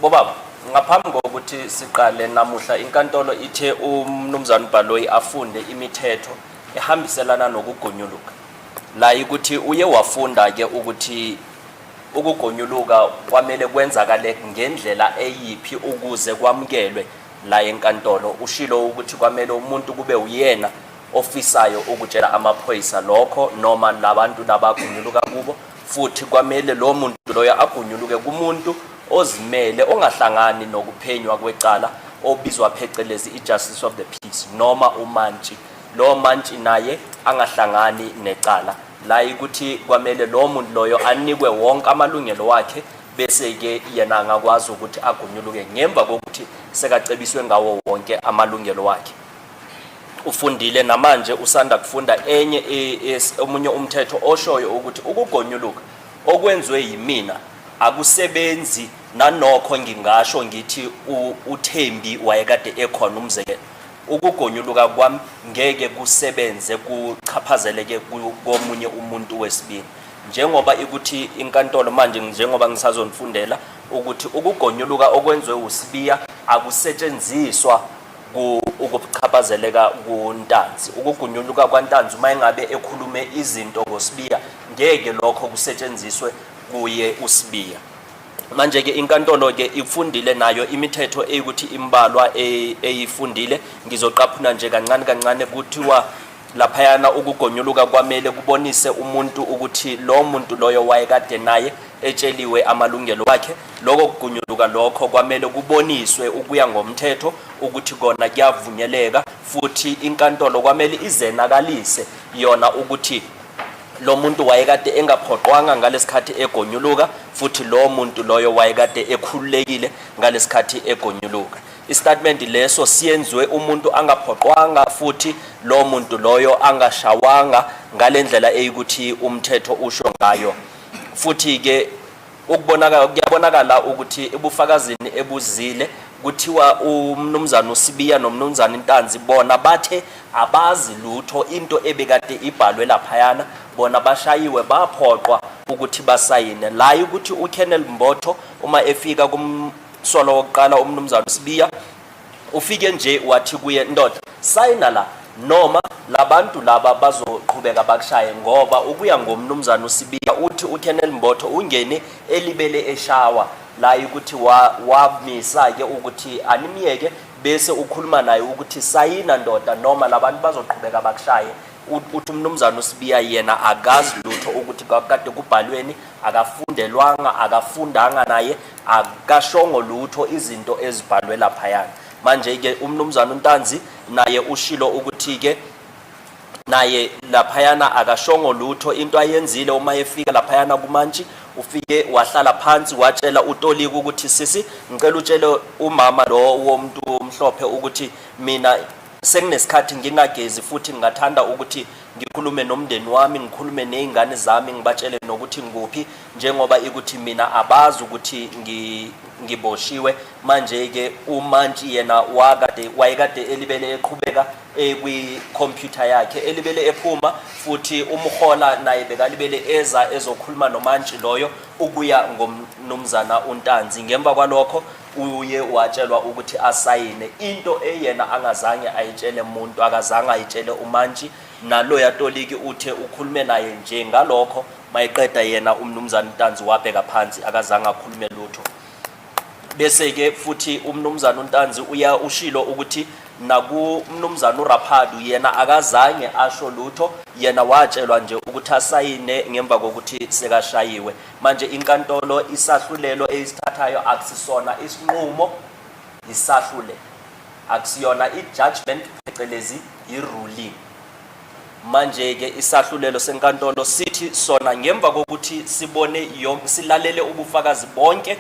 Bobaba, ngaphambi kokuthi siqale namuhla inkantolo ithe uMnumzane uBaloyi afunde imithetho ehambiselana nokugonyuluka. La ikuthi uye wafunda ke ukuthi ukugonyuluka kwamele kwenzakale ngendlela eyiphi ukuze kwamukelwe la enkantolo. Ushilo ukuthi kwamele umuntu kube uyena ofisayo ukutshela amaphoyisa lokho noma labantu laba agonyuluka kubo futhi kwamele lowo muntu loyo agunyuluke kumuntu ozimele ongahlangani nokuphenywa kwecala obizwa phecelezi i-justice of the peace noma umantshi lowo mantshi naye angahlangani necala la ikuthi kwamele lowo muntu loyo anikwe wonke amalungelo wakhe bese-ke yena angakwazi ukuthi agunyuluke ngemva kokuthi sekacebiswe ngawo wonke amalungelo wakhe ufundile namanje usanda kufunda enye omunye umthetho oshoyo ukuthi ukugonyuluka okwenziwe yimina akusebenzi nanokho ngingasho ngithi uThembi wayekade ekhona umzekelo ukugonyuluka kwami ngeke kusebenze kuchaphazeleke komunye umuntu wesibili njengoba ikuthi inkantolo manje njengoba ngisazonifundela ukuthi ukugonyuluka okwenziwe uSibiya akusetshenziswa ku ukuchaphazeleka kuNtanzi ukugunyuluka kwaNtanzi uma engabe ekhulume izinto ngoSibiya ngeke lokho kusetshenziswe kuye uSibiya manje ke inkantolo ke ifundile nayo imithetho eyikuthi imbalwa e, eyifundile ngizoqaphuna nje kancane kancane kuthiwa laphayana ukugonyuluka kwamele kubonise umuntu ukuthi lo muntu loyo wayekade naye etsheliwe amalungelo wakhe Lokho kugunyuluka lokho kwamele kuboniswe ukuya ngomthetho ukuthi kona kuyavunyeleka futhi inkantolo kwamele izenakalise yona ukuthi lo muntu wayekade engaphoqwanga ngalesikhathi egonyuluka futhi lo muntu loyo wayekade ekhululekile ngalesikhathi egonyuluka istatement leso siyenziwe umuntu angaphoqwanga futhi lo muntu loyo angashawanga ngalendlela eyikuthi umthetho usho ngayo futhi ke Ukubonakala kuyabonakala ukuthi ebufakazini ebuzile kuthiwa umnumzane uSibiya nomnumzane Ntanzi bona bathe abazi lutho into ebekade ibhalwe laphayana bona bashayiwe baphoqwa ukuthi basayine la ukuthi uKennel Mbotho uma efika kumsolo wokuqala umnumzane uSibiya Ufike nje wathi kuye, Ndoda, sayina la, noma labantu laba bazoqhubeka bakushaye ngoba ukuya ngomnumzana uSibiya uthi uKenel Mbotho ungene elibele eshawa la ukuthi wamisa ke ukuthi animyeke bese ukhuluma naye ukuthi sayina ndoda noma labantu bazoqhubeka bakushaye uthi umnumzana uSibiya yena akazi lutho ukuthi kakade kubhalweni akafundelwanga akafundanga naye akashongo lutho izinto ezibhalwe laphayana manje-ke umnumzane untanzi naye ushilo ukuthi-ke naye laphayana akashongo lutho into ayenzile uma efika laphayana kumantshi ufike wahlala phansi watshela utolika ukuthi sisi ngicela utshele umama lo womuntu omhlophe ukuthi mina senginesikhathi ngingagezi futhi ngingathanda ukuthi Ngikhulume nomndeni wami, ngikhulume nezingane zami ngibatshele nokuthi ngikuphi njengoba ikuthi mina abazi ukuthi ngi ngiboshiwe manje ke umantshi yena wakade wayekade elibele eqhubeka ekwi computer yakhe elibele ephuma futhi umhola naye bekalibele eza ezokhuluma nomantshi loyo ukuya ngomnumzana uNtanzi ngemva kwalokho uye watshelwa ukuthi asayine into eyena angazange ayitshele muntu akazange ayitshele umantshi naloya toliki uthe ukhulume naye nje ngalokho mayeqeda yena umnumzane Ntanzi wabheka phansi akazange akhulume lutho bese ke futhi umnumzane uNtanzi uya ushilo ukuthi naku umnumzane uRaphadu yena akazange asho lutho yena watshelwa nje ukuthi asayine ngemva kokuthi sekashayiwe Manje inkantolo isahlulelo eyisithathayo akusisona isinqumo yisahlulelo akusiyona i-judgment phecelezi i-ruling manje-ke isahlulelo senkantolo sithi sona ngemva kokuthi sibone yonke silalele ubufakazi bonke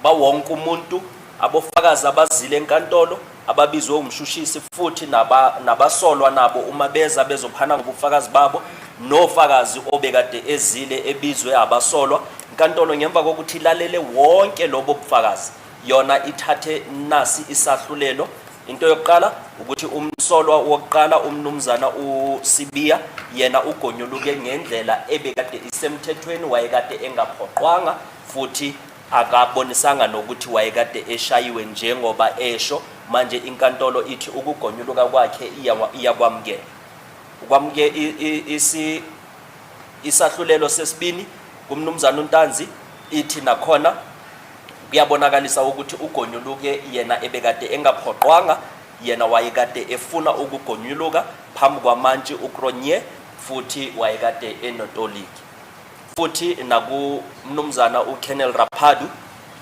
bawonke umuntu, abofakazi abazile enkantolo, ababizwe umshushisi futhi naba, nabasolwa nabo uma beza bezophana ngobufakazi babo nofakazi obekade ezile ebizwe abasolwa inkantolo ngemva kokuthi ilalele wonke lobo bufakazi yona ithathe nasi isahlulelo into yokuqala ukuthi umsolwa wokuqala umnumzana uSibiya yena ugonyuluke ngendlela ebekade isemthethweni wayekade engaphoqwanga futhi akabonisanga nokuthi wayekade eshayiwe njengoba esho manje inkantolo ithi ukugonyuluka kwakhe iyakwamukela ukwamuke isi isahlulelo sesibini kumnumzana uNtanzi ithi nakhona kuyabonakalisa ukuthi ugonyuluke yena ebekade engaphoqwanga yena wayekade efuna ukugonyuluka phambi kwamantshi uCronje futhi wayekade enotoliki futhi nakumnumzana uKennel Raphadu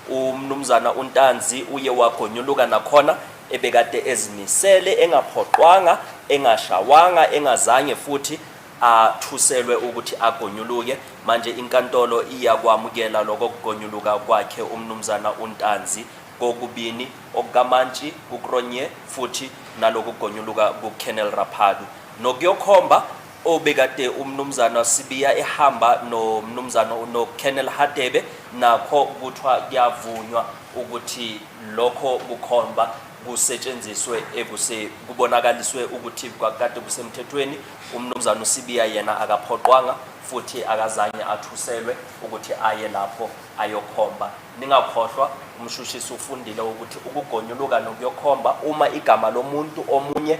umnumzana uNtanzi uye wagonyuluka nakhona ebekade ezimisele engaphoqwanga engashawanga engazange futhi athuselwe ukuthi agonyuluke manje inkantolo iyakwamukela lokho kugonyuluka kwakhe umnumzana uNtanzi kokubini okukamantshi kuKronje futhi nalokugonyuluka kuKennel Raphadu nokuyokhomba obekade umnumzana Sibiya ehamba nomnumzana uNokenel Hadebe nakho kuthiwa kuyavunywa ukuthi lokho kukhomba kusetshenziswe ekuse kubonakaliswe ukuthi kwakade kusemthethweni umnumzana uSibiya yena akaphoqwanga futhi akazange athuselwe ukuthi aye lapho ayokhomba ningakhohlwa umshushisi ufundile ukuthi ukugonyuluka nokuyokhomba uma igama lomuntu omunye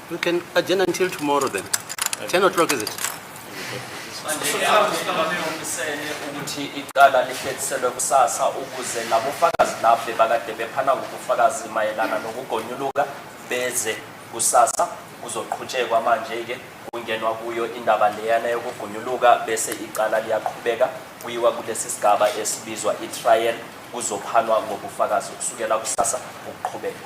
We can adjourn until tomorrow then. 10 o'clock is it? ukuthi icala lihlehliselwe kusasa ukuze nabofakazi lafe bakade bephana ngobufakazi mayelana nokugonyuluka beze kusasa kuzoqhutshekwa manje-ke kungenwa kuyo indaba leyana yokugunyuluka bese icala liyaqhubeka kuyiwa kulesi sigaba esibizwa i-trial kuzophanwa ngobufakazi kusukela kusasa ukuqhubeka